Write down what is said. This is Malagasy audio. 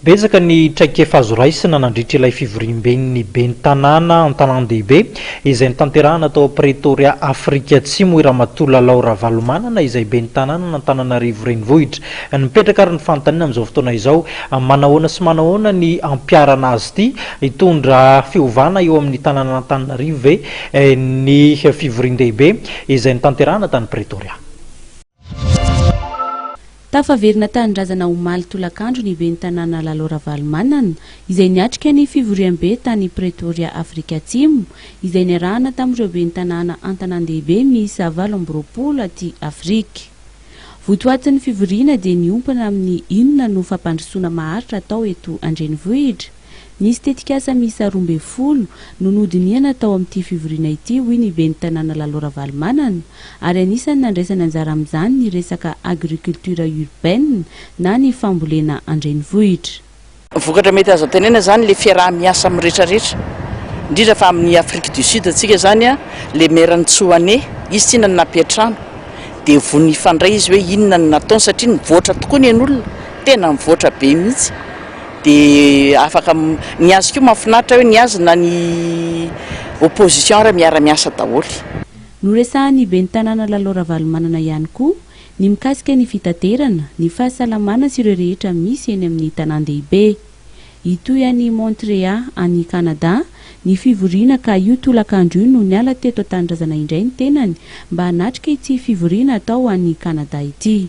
Betsaka ny traikefa azo raisina nandritra ilay fivoriamben'ny ben'ny tanàna an-tanàn-dehibe izay notanterahana tao Pretoria, Afrika Atsimo, hoy Ramatoa Lalao Ravalomanana izay ben'ny tanànan'Antananarivo Renivohitra. Mipetraka ary ny fanontaniana amin'izao fotoana izao, manahoana sy manahoana ny hampiharana azy ity? Hitondra fiovana eo amin'ny tanànan'Antananarivo ve ny fivorian-dehibe izay notanterahana tany Pretoria? Tafaverina tanindrazana omaly tolakandro ny ben'ny tanàna Lalo Ravalomanana, izay niatrika ny fivoriambe tany Pretoria Afrika Atsimo, izay niarahana tamin'ireo ben'ny tanàna an-tanàn-dehibe miisa valo amby roapolo aty Afrika. Votoatin'ny fivoriana dia niompana amin'ny inona no fampandrosoana maharitra atao eto an-drenivohitra? Nisy tetikasa miisa roa ambin'ny folo no nodinihana tao amin'ity fivoriana ity, hoy ny ben'ny tanàna Lalo Ravalomanana, ary anisan'ny nandraisany anjara amin'izany ny resaka agriculture urbaine na ny fambolena an-drenivohitra. Vokatra mety azo antenaina izany ilay fiaraha-miasa amin'ny rehetra rehetra, indrindra fa amin'i Afrique du Sud antsika izany, ilay Maire Ntsoane, izy tsinona no nampiantrano, dia vonona hifandray izy hoe inona no nataony satria nivoatra tokoa ny ain'olona, tena nivoatra be mihitsy. Dia afaka ny azy koa mafinaritra hoe ny azy na ny opposition ary miara miasa daholo. Noresahan'ny ben'ny tanàna Lalo Ravalomanana ihany koa ny mikasika ny fitaterana, ny fahasalamana sy ireo rehetra misy eny amin'ny tanàn-dehibe. Hitohy any Montrea any Canada ny fivoriana ka io tolakandro io no niala teto an-tanindrazana indray ny tenany mba hanatrika ity fivoriana atao any Canada ity.